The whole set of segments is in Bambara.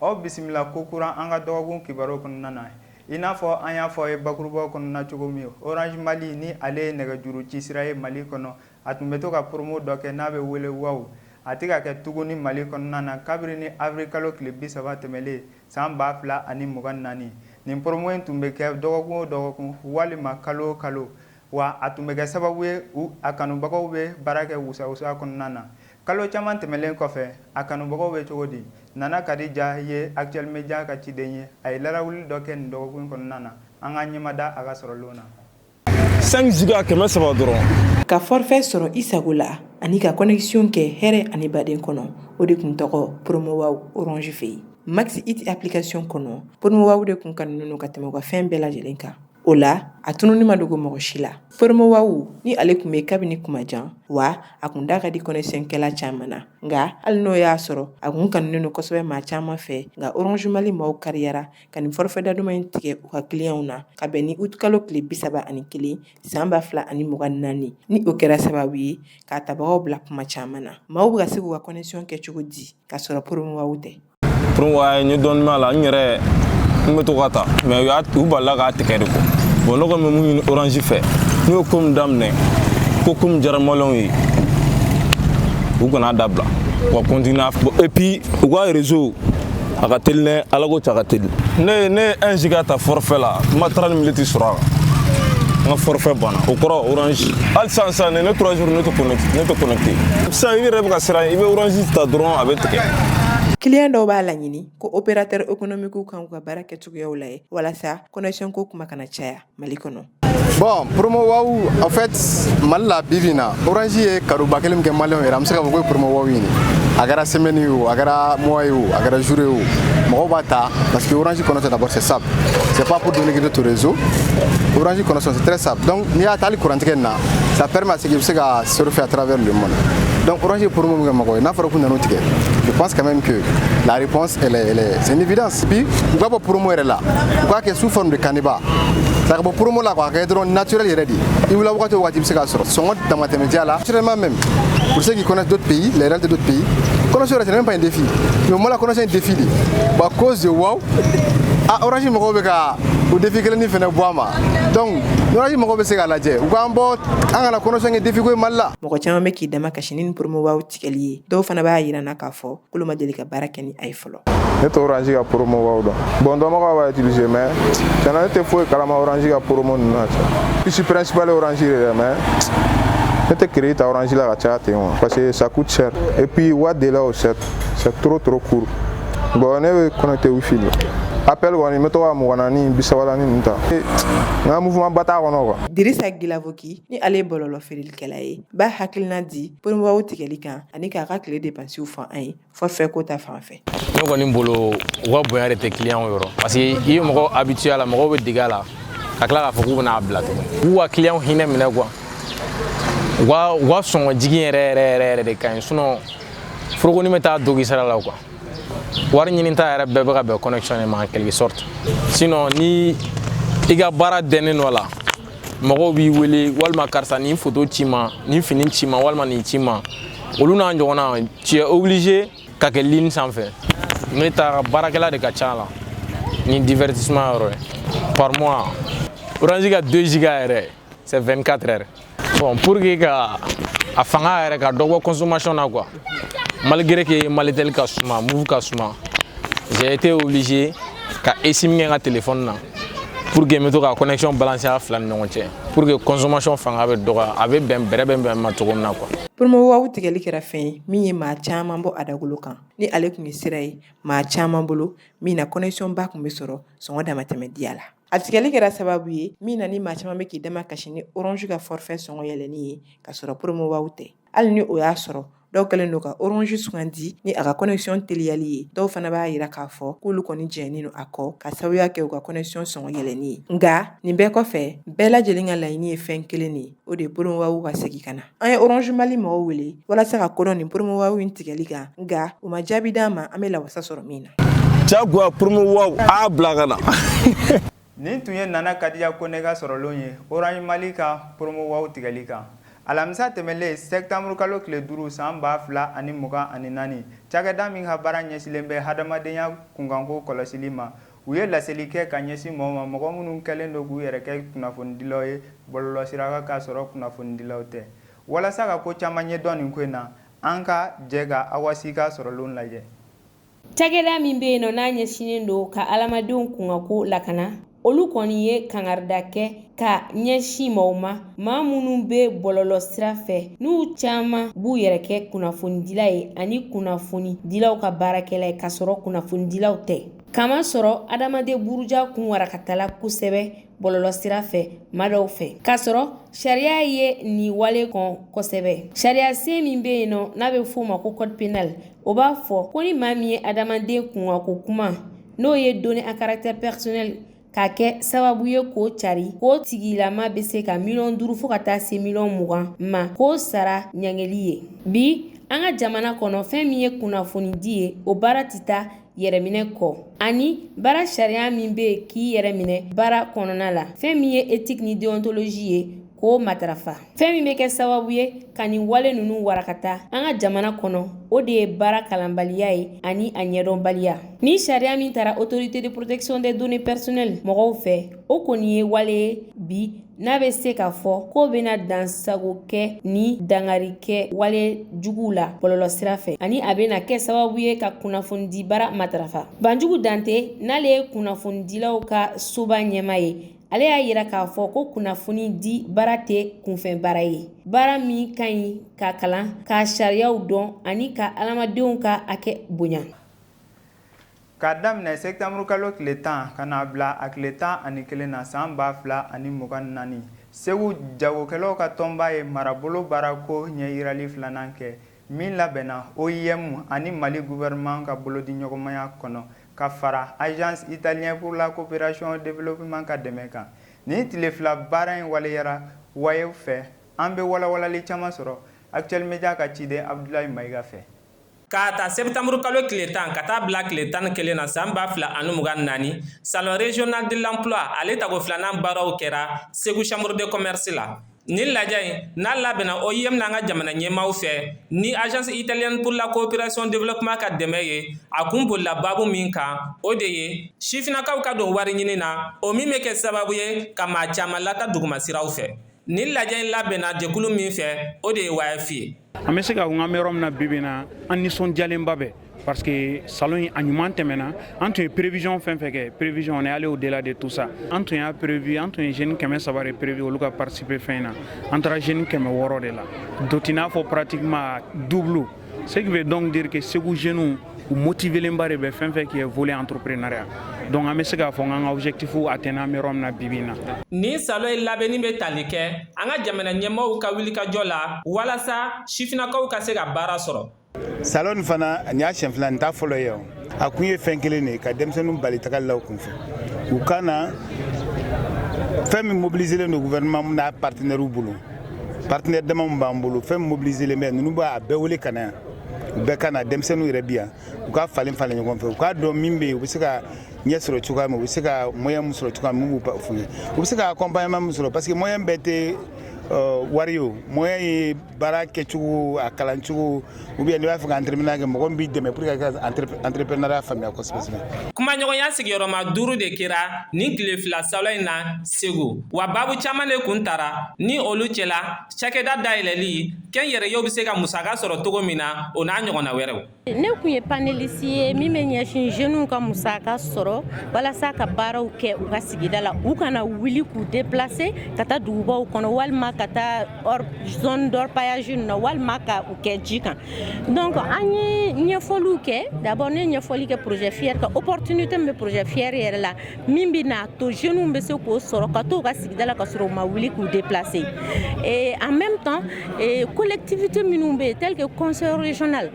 Aw bisimila ko kura an ka dɔgɔkun kibaru kɔnɔna na i n'a fɔ an y'a fɔ a ye bakurubaw kɔnɔna cogo min orange mali ni ale ye nɛgɛjuru ci sira ye mali kɔnɔ a tun bɛ to ka poromo dɔ kɛ n'a bɛ wele waw a tɛ ka kɛ tuguni mali kɔnɔna na kabiri ni awirili kalo tile bi saba tɛmɛlen san ba fila ani mugan naani nin poromo in tun bɛ kɛ dɔgɔkun o dɔgɔkun walima kalo o kalo wa a tun bɛ kɛ sababu ye a kanubagaw bɛ baara kɛ wusawusa kɔnɔna na kalo caman tɛmɛnlen kɔfɛ a kanubagaw bɛ cogo di nana kadija ye actuel média ka ciden ye a ye larawuli dɔ kɛ nin dɔgɔkun kɔnɔna na an ka ɲɛmada a ka sɔrɔlen na cinq giga kɛmɛ saba dɔrɔn ka forfait sɔrɔ i sago la ani ka connexion kɛ hɛrɛ ani baden kɔnɔ o de tun tɔgɔ poromo waw oransi fɛ yen max it application kɔnɔ poromo waw de tun kanunen ka tɛmɛ ka fɛn bɛɛ lajɛlen kan o la a tununi ma dogo mɔgɔ si la poromo waw ni ale tun bɛ kabini kuma jan wa a tun da ka di connexion kɛla caman na nka hali n'o y'a sɔrɔ a tun kanulen don kosɛbɛ maa caman fɛ nka orange mali maaw kariyara ka nin forfait da duman in tigɛ u ka kiliyanw na ka bɛn ni uti kalo tile bi saba ani kelen san ba fila ani mugan naani ni o kɛra sababu ye k'a tabagaw bila kuma caman na maaw bɛ ka se k'u ka connexion kɛ cogo di k'a sɔrɔ poromo waw tɛ promo waw in dɔɔni m'a la n yɛrɛ n bɛ to k'a ta mais u y'a u balila k'a tigɛ de ko bon ne kɔni bɛ mun ɲini orange fɛ n'u ye ko min daminɛ ko ko min diyara maliyɛnw ye u kan'a dabila u ka continuer et puis u ka réseau a ka teli dɛ ala ko cɛ a ka teli ne ne ye un giga ta forfait la n ma trente minutes sɔrɔ a kan n ka forfait banna o kɔrɔ orange hali sisan sisan ne ne trois jours ne tɛ connecté ne tɛ connecté sisan i yɛrɛ bɛ ka siran i bɛ orange ta dɔrɔn a bɛ Kiliyan dɔw b'a laɲini ko o bɛ taw kan uu ka baara kɛ cogoyaw la walasa koc ko kuma kana caya mali kɔnɔ bɔn poromo a fɛ mali la bi na oransi ye karoba kelen kɛ mali yɛrɛ bɛ se ka fɔ ko poromɔgɔw ɲini a kɛra sɛmɛni ye a kɛra mɔgɔ ye o a kɛra zure o mɔgɔw b'a ta parce que oransi kɔnɔ tɛna bɔ se sa cɛ papu donki torezo oransi kɔnɔ sa dɔn n'i y'a taali kurantigɛ na sa pɛrema sigi i bɛ se ka surfer à travers le monde donc orange ye promo min kɛ mɔgɔw ye n'a fɔra k'u nan'o tigɛ je pense quand même que la réponse elle est, elle est c'est une évidence puis u ka bɔ promo yɛrɛ la u k'a kɛ sous forme de canevas a ka bɔ promo la k'a kɛ dɔrɔn naturel yɛrɛ de i wulila wagati o wagati i bɛ se k'a sɔrɔ sɔngɔ damatɛmɛdiya la naturellement même pour ceux qui connaissent d'autres pays les réalités d'autres pays connexion yɛrɛ c'est même pas un défi mais moi la connexion est un défi de bon à cause de wow a ah, orange mɔgɔw bɛ ka o défi kelen ni fɛnɛ bɔ a ma donc orange mɔgɔw bɛ se k'a lajɛ u k'an bɔ an kana connexion kɛ défi ko ye mali la mɔgɔ caman bɛ k'i dama kasi ni poromowaw tigɛli ye dɔw fana b'a jira na k'a fɔ k'olu ma deli ka baara kɛ ni a ye fɔlɔ ne tɛ oransi ka poromowaw dɔn bon dɔnbagaw b'a utiliser mais tiɲɛ na ne tɛ foyi kalama oransi ka poromo ninnu na puce principale oransi de dɛ mais ne tɛ crédit ta oransi la ka caya ten wa parce que ça coûte cher et puis u ka délai o c'est c'est trop trop court bon ne bɛ connecté wifi la appel kɔni n bɛ to ka mugan naani bisaba naani ninnu ta n ka mouvement ba t'a kɔnɔ quoi Dirisa Gilavoki ni ale ye bɔlɔlɔ feerelikɛla ye b'a hakilina di poromowaw tigɛli kan ani k'a ka tile depansiw fɔ an ye forfait ko ta fan fɛ ne kɔni bolo u ka bonya de tɛ client yɔrɔ parce que i ye mɔgɔ habitué a la mɔgɔw bɛ dege a la ka tila k'a fɔ k'u bɛna a bila tugun u ka client hinɛ minɛ quoi u ka sɔngɔ jigin yɛrɛ yɛrɛ yɛrɛ yɛrɛ de ka ɲi sinon forokonin bɛ taa dogi sara la quoi wari ɲini ta yɛrɛ bɛɛ bɛ ka bɛn connexion de ma en quelque sorte sinon ni i ka baara dɛnnen dɔ la mɔgɔw b'i wele walima karisa nin foto ci ma nin fini ci ma walima nin ci ma olu n'a ɲɔgɔnna tu es obligé ka kɛ ligne sanfɛ ne ta baarakɛla de ka ca a la ni divertissement yɔrɔ ye par mois orange ka 2 giga yɛrɛ c'est 24 heures bon pour que ka a fanga yɛrɛ ka dɔ bɔ consommation na quoi malgré que malitel ka suma Moov ka suma j'ai été obligé ka esim kɛ n ka téléphone na pour que n bɛ to ka connexion balancer a fila ni ɲɔgɔn cɛ pour que consommation fanga bɛ dɔgɔya a bɛ bɛn bɛrɛ bɛn bɛn ma cogo min na quoi Promowaw tigɛli kɛra fɛn ye min ye maa caman bɔ a dagolo kan ni ale tun ye sira ye maa caman bolo min na connexion ba tun bɛ sɔrɔ sɔngɔ damatɛmɛ diya la A tigɛli kɛra sababu ye min na ni maa caman bɛ k'i dama kasi ni orange ka forfait sɔngɔ yɛlɛnni ye ka sɔrɔ promowaw tɛ hali ni o y'a sɔrɔ dɔw kɛlen don ka orange sugandi ni a ka connexion teliyali ye dɔw fana b'a jira k'a fɔ k'olu kɔni jɛnnen don a kɔ ka sababuya kɛ u ka connexion sɔngɔ yɛlɛnni ye nka nin bɛɛ kɔfɛ bɛɛ lajɛlen ka laɲini ye fɛn kelen de ye o de ye promowaw ka segin ka na an ye oranze mali mɔgɔw wele walasa ka ko dɔn nin poromowaw in tigɛli kan nka u ma jaabi d'an ma an bɛ lawasa sɔrɔ min na jagoya poromowaw a bila ka na nin tun ye nana kadiya kone ka sɔrɔlen ye oranze mali ka poromowaw tigɛli kan alamisa tɛmɛlen sɛtanburukalo tile duuru san ba fila ani mugan ani naani cakɛda min ka baara ɲɛsinlen bɛ hadamadenya kunkanko kɔlɔsili ma u ye laseli kɛ ka ɲɛsin mɔgɔw ma mɔgɔ minnu kɛlen don k'u yɛrɛ kɛ kunnafonidilaw ye bɔlɔlɔsira kan k'a sɔrɔ kunnafonidilaw tɛ. Walasa ka ko caman ɲɛdɔn nin ko in na, an ka jɛ ka Awa Si ka sɔrɔlen lajɛ. Cakɛda min bɛ yen nɔ n'a ɲɛsinnen don ka adamadenw kunkanko lakana, olu kɔni ye kangarida kɛ ka ɲɛsin mɔgɔw ma, maa minnu bɛ bɔlɔlɔsira fɛ n'u caman b'u yɛrɛ kɛ kunnafonidila ye ani kunnafonidilaw ka baarakɛla ye k'a sɔrɔ kunnafonidilaw tɛ. K'a masɔrɔ adamaden buruja kun warakatala kosɛbɛ bɔlɔlɔ sira fɛ maa dɔw fɛ k'a sɔrɔ sariya ye nin wale kɔn kosɛbɛ sariya sen min bɛ yen nɔ n'a bɛ f'o ma ko code pénal o b'a fɔ ko ni maa min ye adamaden kunkanko kuma n'o ye données à caractère personnel k'a kɛ sababu ye k'o cari k'o tigilama bɛ se ka miliyɔn duuru fo ka taa se miliyɔn mugan ma k'o sara ɲangeli ye bi an ka jamana kɔnɔ fɛn min ye kunnafonidi ye o baara tɛ taa yɛrɛminɛ kɔ ani baara sariya min bɛ yen k'i yɛrɛ minɛ baara kɔnɔna la fɛn min ye éthique ni déontologie ye k'o matarafa fɛn min bɛ kɛ sababu ye ka nin wale ninnu warakata an ka jamana kɔnɔ o de ye baara kalanbaliya ye ani a ɲɛdɔnbaliya ni sariya min tara autorité de protection des données personnelles mɔgɔw fɛ o kɔni ye wale ye bi n'a bɛ se k'a fɔ k'o bɛna dansago kɛ ni dangari kɛ wale juguw la bɔlɔlɔ sira fɛ ani a bɛna kɛ sababu ye ka kunnafonidi baara matarafa Banjugu Dante n'ale ye kunnafonidilaw ka soba ɲɛmaa ye ale y'a yira k'a fɔ ko kunnafoni di baara tɛ kunfɛn baara ye baara min ka ɲi ka kalan ka sariyaw dɔn ani ka adamadenw ka hakɛ bonya k'a daminɛ sɛptanburukalo tile tan ka n'a bila a tile tan ani kelen na san ba fila ani mugan naani Segu jagokɛlaw ka tɔnba ye marabolo baarako ɲɛyirali filanan kɛ Min labɛnna OIM ani Mali gouvernement ka bolodiɲɔgɔnmaya kɔnɔ, ka fara Agence italienne pour la coopération au développement ka dɛmɛ kan. Nin tile fila baara in waleyara YF fɛ, an bɛ walawalali caman sɔrɔ Actuel Media ka ciden Abudulayi Mayiga fɛ. K'a ta sɛptanburukalo tile tan ka taa bila tile tan ni kelen na san ba fila ani mugan ni naani, Salon régional de l'emploi ale tago filanan baaraw kɛra Segu Chambre de commerce la. Nin lajɛ in n'a labɛnna OIM n'an ka jamana ɲɛmaaw fɛ ni Agence italienne pour la coopération développement ka dɛmɛ ye a kun bolila baabu min kan o de ye sifinnakaw ka don wari ɲini na o min bɛ kɛ sababu ye ka maa caman lata dugumasiraw fɛ nin lajɛ in labɛnna jɛkulu min fɛ o de ye YF ye an bɛ se k'a fɔ n k'an bɛ yɔrɔ min na bibi na an nisɔndiyalenba bɛ parce que salon in a ɲuman tɛmɛna an tun ye prévision fɛn fɛn kɛ prévision on est allé au delà de tout ça an tun y'a prévu an tun ye jeune kɛmɛ saba de prévu olu ka participer fɛn in na an taara jeune kɛmɛ wɔɔrɔ de la donc i n'a fɔ pratiquement double ce qui veut donc dire que Segu jeunes u motivelenba de bɛ fɛn fɛn qui est volet entrepreneuriat donc an bɛ se k'a fɔ n k'an ka objectif atteindre an bɛ yɔrɔ min na bibi in na. Nin salon in labɛnni bɛ tali kɛ an ka jamana ɲɛmaaw ka wilikajɔ la walasa sifinnakaw ka se ka baara sɔrɔ. Salon in fana nin y'a siɲɛ fila nin t'a fɔlɔ ye a kun ye fɛn kelen de ye ka denmisɛnninw bali tagali la u kunfɛ u ka na fɛn min mobiliselen don gouvernement n'a partenaires bolo partenaires dama min b'an bolo fɛn min mobiliselen bɛ ninnu b'a bɛɛ wele ka na yan. u bɛɛ ka na denmisɛnninw yɛrɛ bi yan u ka falen falen ɲɔgɔn fɛ u k'a dɔn min bɛ yen u bɛ se ka ɲɛ sɔrɔ cogoya min u bɛ se ka moyen min sɔrɔ cogoya min b'u f'u ye u bɛ se ka accompagnement min sɔrɔ parce que moyen bɛɛ tɛ euh, wari o moyen ye baara kɛcogo a kalan cogo ou bien n'i b'a fɛ ka entrepreneur kɛ mɔgɔ min b'i dɛmɛ pour que ka entrepreneuriat faamuya kosɛbɛ kosɛbɛ. kumaɲɔgɔnya sigiyɔrɔma duuru de kɛra nin tile fila salon in na segu wa baabu caman de kun tara ni olu cɛla Cakɛda dayɛlɛli kɛnyɛrɛyew bɛ se ka musaka sɔrɔ cogo min na o n'a ɲɔgɔnna wɛrɛw ne kun ye panéliste ye min bɛ ɲɛsin jeunes ka musaka sɔrɔ walasa ka baaraw kɛ u ka sigida la u kana wuli k'u déplacer ka taa dugubaw kɔnɔ walima ka taa zone d'orpaillage na walima ka u kɛ ji kan donc an ye ɲɛfɔliw kɛ d'abord ne ɲɛfɔli kɛ projet FIER kan opportunité min bɛ projet FIER yɛrɛ la min bɛ n'a to jeunes bɛ se k'o sɔrɔ ka t'u ka sigida la ka sɔrɔ u ma wuli k'u déplacer et en même temps collectivité minnu bɛ yen tel que conseil régional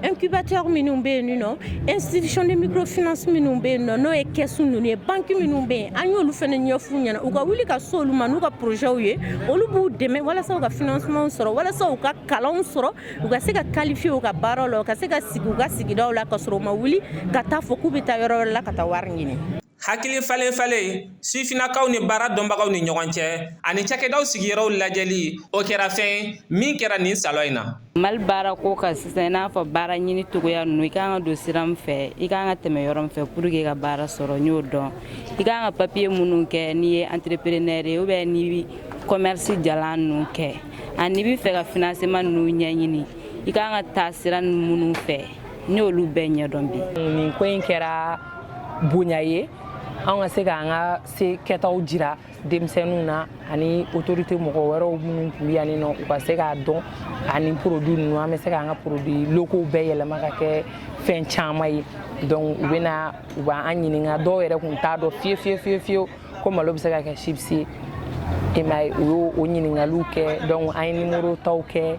incubateur minnu bɛ yen nɔ institution de microfinance minnu bɛ yen nɔ n'o ye kɛsu ninnu ye banque minnu bɛ yen an y'olu fana ɲɛf'u ɲɛna u ka wuli ka s'olu ma n'u ka projets ye olu b'u dɛmɛ walasa u ka financement sɔrɔ walasa u ka kalanw sɔrɔ U ka se ka qualifier u ka baara la u ka se ka sigi u ka sigida la ka sɔrɔ u ma wuli ka taa fɔ k'u bɛ taa yɔrɔ wɛrɛ la ka taa wari ɲini hakili falen falen sifinnakaw ni baara dɔnbagaw ni ɲɔgɔn cɛ ani cakɛdaw sigiyɔrɔw lajɛli o kɛra fɛn min kɛra nin salɔ in na mali baara ko ka sisan i n'a fɔ baara ɲini togoya ninnu i ka kan ka don sira min fɛ i ka kan ka tɛmɛ yɔrɔ min fɛ pour que ka baara sɔrɔ n y'o dɔn i ka kan ka papiye minnu kɛ n'i ye entrepreneur ye ou bien n'i commerce jalan ninnu kɛ ani n'i bɛ fɛ ka financement ninnu ɲɛɲini i ka kan ka taa sira minnu fɛ n y'olu bɛɛ ɲɛdɔn bi nin ko in kɛra bonya ye anw ka se k'an ka se kɛtaw jira denmisɛnninw na ani autorité mɔgɔ wɛrɛw minnu tun bɛ yan nɔ u ka se k'a dɔn ani produit ninnu an bɛ se k'an ka produits locaux bɛɛ yɛlɛma ka kɛ fɛn caman ye donc u bɛ na u b'an ɲininka dɔw yɛrɛ tun t'a dɔn fiye fiye fiye fiyewu ko malo bɛ se ka kɛ chips ye i m'a ye u y'o ɲininkaliw kɛ donc an ye numéro taw kɛ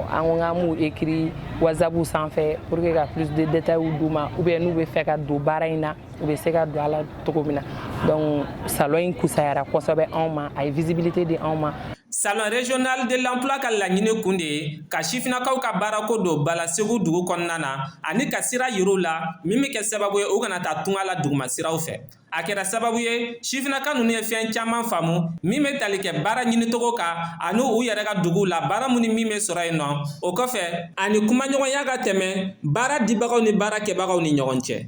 an ko k'an b'u écrire WhatsApp sanfɛ pour que ka plus de détails d'u ma ou bien n'u bɛ fɛ ka don baara in na u bɛ se ka don a la cogo min na donc salon in kusayara kosɛbɛ anw ma a ye visibilité di anw ma salon régional de l'emploi ka laɲini kun de ye ka sifinnakaw ka baarako don ba la segu dugu kɔnɔna na ani ka sira yir'u la min bɛ kɛ sababu ye u kana taa tunga la dugumasiraw fɛ a kɛra sababu ye sifinaka ninnu ye fɛn caman faamu min bɛ tali kɛ baara ɲinicogo kan ani u yɛrɛ ka duguw la baara min ni min bɛ sɔrɔ yen nɔ o kɔfɛ ani kumaɲɔgɔnya ka tɛmɛ baara dibagaw ni baara kɛbagaw ni ɲɔgɔn cɛ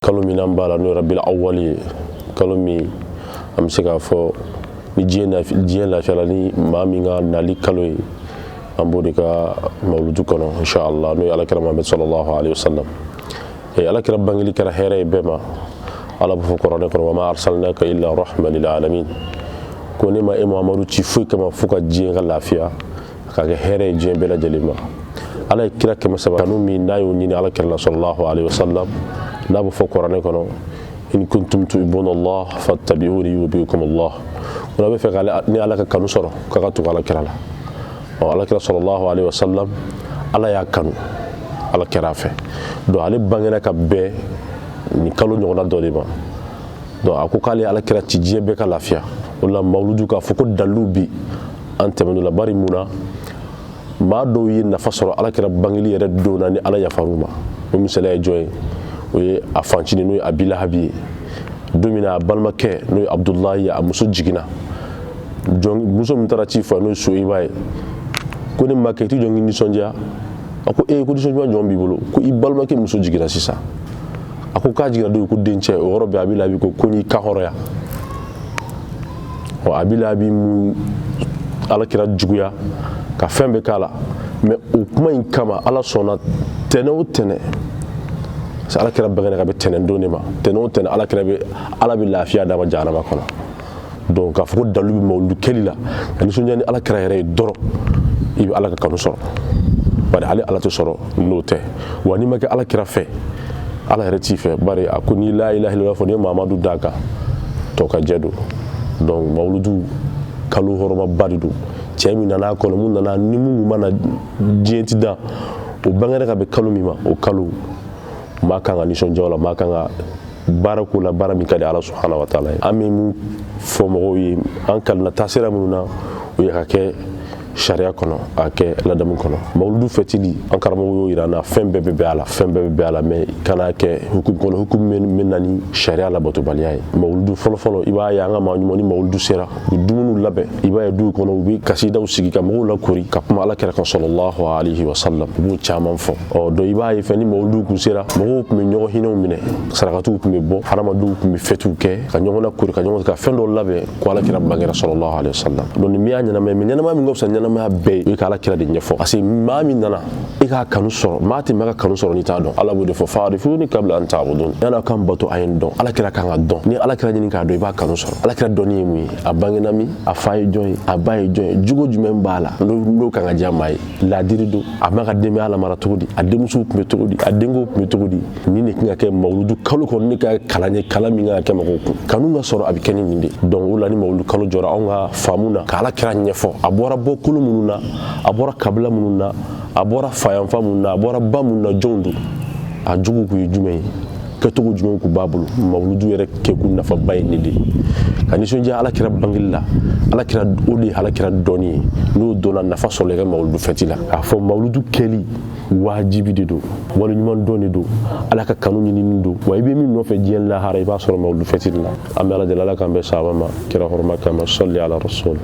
kalo min an b'a la n'o ye rabil awwal ye kalo min an bɛ se k'a fɔ ni diɲɛ lafiyala ni maa min ka nali kalo ye an b'o de ka mawuludu kɔnɔ inshallah n'o ye alakira muhamadu sallallahu alaihi wasallam ee alakira bangeli kɛra hɛrɛ ye bɛɛ ma ala b'a fɔ kuranɛ kɔnɔ wa ma arsalnaka illa rahman lil alamin ko ne ma e muhamadu ci foyi kama fo ka diɲɛ ka lafiya ka kɛ hɛrɛ ye diɲɛ bɛɛ lajɛlen ma ala ye kira kɛmɛ saba kanu min n'a y'o ɲini ala kira la sallallahu alayhi wa sallam n'a bɛ fɔ kuranɛ kɔnɔ in kuntum tuhibbuna allah fattabi'uni yuhibbukum allah n'a b'a fɛ ni ala ka kanu sɔrɔ k'a ka tugu ala kira la ɔ ala kira sallallahu alayhi wa sallam ala y'a kanu ala kɛra a fɛ donc ale bangera ka bɛn nin kalo ɲɔgɔnna dɔ de ma donc a ko k'ale ala kira ci diɲɛ bɛɛ ka lafiya o la mawuludu k'a fɔ ko dalilu bi an tɛmɛn'o la bari mun na maa dɔw ye nafa sɔrɔ ala kira bangeli yɛrɛ don na ni ala yafar'u ma o misaliya ye jɔn ye o ye a fancinin n'o ye abi lahabi ye don min na a balimakɛ n'o ye abudulayi ye a muso jiginna muso min taara ci fɔ n'o ye soyiba ye ko ne makɛ i ti jɔn k'i nisɔndiya a ko ee ko nisɔndiya jɔn b'i bolo ko i balimakɛ muso jiginna sisan a ko k'a jiginna don ko dencɛ o yɔrɔ bɛɛ abi lahabi ko ko n'i ka hɔrɔnya ɔ abi lahabi mun ala kira juguya ka fɛn bɛɛ k'a la mais o kuma in kama ala sɔnna tɛnɛ o tɛnɛ parce que ala kira bangena ka bɛn tɛnɛ don de ma tɛnɛ o tɛnɛ ala kira bɛ ala bɛ lafiya d'a ma jahanama kɔnɔ donc k'a fɔ ko dalilu bɛ mawuludu kɛli la ka nisɔndiya ni ala kira yɛrɛ ye dɔrɔn i bɛ ala ka kanu sɔrɔ bari ale ala tɛ sɔrɔ n'o tɛ wa n'i ma kɛ ala kira fɛ ala yɛrɛ t'i fɛ bari a ko n'i la ilaha illallah fɔ n'i ma mamadu d'a kan tɔkajɛ don donc mawuludu kalo hɔrɔmaba de don cɛ min nan'a kɔnɔ mun nana ni mun ma na diɲɛ ti dan o bangera ka bɛn kalo min ma o kalo maa kan ka nisɔndiya o la maa kan ka baara k'o la baara min ka di ala subhanahu wa taala ye an bɛ mun fɔ mɔgɔw ye an kalina taasira minnu na o ye ka kɛ sariya kɔnɔ a kɛ ladamu kɔnɔ mawuludu fɛtili an karamɔgɔ y'o yira an na fɛn bɛɛ bɛ bɛn a la fɛn bɛɛ bɛ bɛn a la mais kana kɛ hukumu kɔnɔ hukumu min na ni sariya labatobaliya ye mawuludu fɔlɔfɔlɔ i b'a ye an ka maa ɲuman ni mawuludu sera u bɛ dumuniw labɛn i b'a ye duw kɔnɔ u bɛ kasidaw sigi ka mɔgɔw lakori ka kuma ala kira kan sallallahu alaihi wasallam u b'o caman fɔ donc i b'a ye fɛn ni mawuludu kun sera mɔgɔw tun bɛ ɲɔgɔn hinɛw minɛ sarakatiw tun bɛ bɔ hadamadenw tun bɛ fɛtiw kɛ ka ɲɔgɔn lakori ka ɲɔgɔn ka fɛn dɔw labɛn ko ala kira bangera sallallahu alaihi wasallam donc min y'a ɲɛnamaya mais ɲɛnamaya min ka fisa ɲɛnamaya bɛɛ ye o ye ka ala kira de ɲɛfɔ parce que maa min nana i k'a kanu sɔrɔ maa tɛ maa ka kanu sɔrɔ n'i t'a dɔn ala b'o de fɔ fa'arifuni qabla an ta'budun yan'a ka n bato a ye n dɔn ala kira kan ka dɔn ni ala kira ɲini k'a dɔn i b'a kanu sɔrɔ ala kira dɔnni ye mun ye a bangena min a fa ye jɔn ye a ba ye jɔn ye jogo jumɛn b'a la n'o kan ka diya maa ye laadiri don a b'a ka denbaya lamara cogo di a denmusow tun bɛ cogo di a denkɛw tun bɛ cogo di nin de kan ka kɛ mawuludu kalo kɔnɔ ne ka kalan ye kalan min kan ka kɛ mɔgɔw kun kanu ka sɔrɔ a bɛ kɛ ni nin de donc o la ni mawuludu kalo jɔra anw ka faamu na ka ala kira ɲɛfɔ a bɔra bɔkolo minnu na a bɔra kabila minnu na a bɔra fayanfa minnu na a bɔra ba minnu na jɔnw don a jogo kun ye jumɛn ye kɛcogo jumɛn kun b'a bolo mawuludu yɛrɛ kɛkun nafaba ye nin de ye ka nisɔndiya ala kira bangeli la ala kira o de ye ala kira dɔnni ye n'o dɔnna nafa sɔrɔla i ka mawuludu fɛti la k'a fɔ mawuludu kɛli wajibi de don waleɲumandɔn de don ala ka kanu ɲinini don wa i bɛ min nɔfɛ diɲɛ lahara i b'a sɔrɔ mawuludu fɛti de la an bɛ ala deli ala k'an bɛn sawaba ma kira hɔrɔma kama salli ala rasul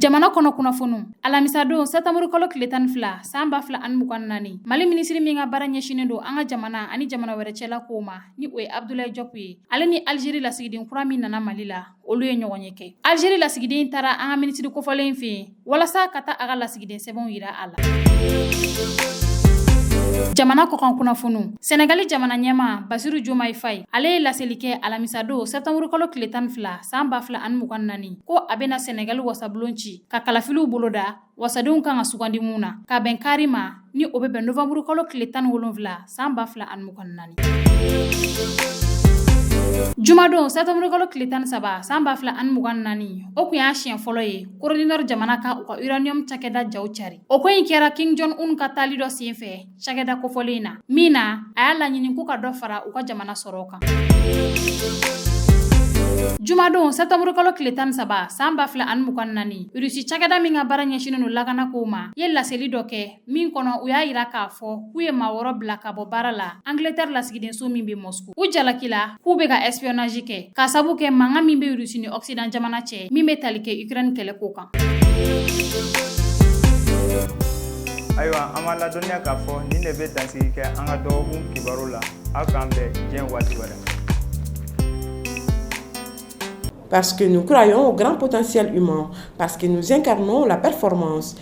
jamana kɔnɔ kunnafoniw alamisadon sɛtanburukalo tile tan fila san ba fila ani mugan naani mali minisiri min ka baara ɲɛsinnen don an ka jamana ani jamana wɛrɛ cɛla kow ma ni o ye Abudulayi Jɔpu ye ale ni Alizeri lasigiden kura min nana Mali la olu ye ɲɔgɔnye kɛ Alizeri lasigiden in taara an ka minisiri kofɔlen in fɛ yen walasa ka taa a ka lasigiden sɛbɛnw yira a la jamana kɔkan kunnafoniw sɛnɛgali jamana ɲɛma basiru jomayi fayi ale ye laseli kɛ alamisadon sɛptanburukalo tile tan ni fila san ba fila ani mugan naani ko a bɛna sɛnɛgali wasabulon ci ka kalafiliw boloda wasadenw kan ka sugandi minnu na ka bɛn kari ma ni o bɛ bɛn nowanburukalo tile tan ni wolonfila san ba fila ani mugan naani jumadon sɛtanburukalo tile tan ni saba san ba fila ani mugan naani o kun y'a siɲɛ fɔlɔ ye kore di nɔri jamana ka u ka uranium cakɛda jaw cari o ko in kɛra kim jɔn un ka taali dɔ senfɛ cakɛda kofɔlen in na min na a y'a laɲini k'u ka dɔ fara u ka jamana sɔrɔ kan jumadon sɛtanburukalo tile tan saba san ba fila ani mugan naani rusi cakɛda min ka baara ɲɛsinin don lakana kow ma ye laseli dɔ kɛ min kɔnɔ u y'a yira k'a fɔ k'u ye maa wɔɔrɔ bila ka bɔ baara la angletɛri lasigidenso min bɛ mɔsku u jalakila k'u bɛ ka espionnage kɛ k'a sabu kɛ mankan min bɛ Russie ni Occident jamana cɛ min bɛ tali kɛ Ukraine kɛlɛko kan. Ayiwa an b'a ladɔnniya k'a fɔ nin de bɛ dansigi kɛ an ka dɔgɔkun kibaru la aw k'an bɛn diɲɛ waati wɛrɛ. Parce que nous croyons au grand potentiel humain, parce que nous incarnons la performance.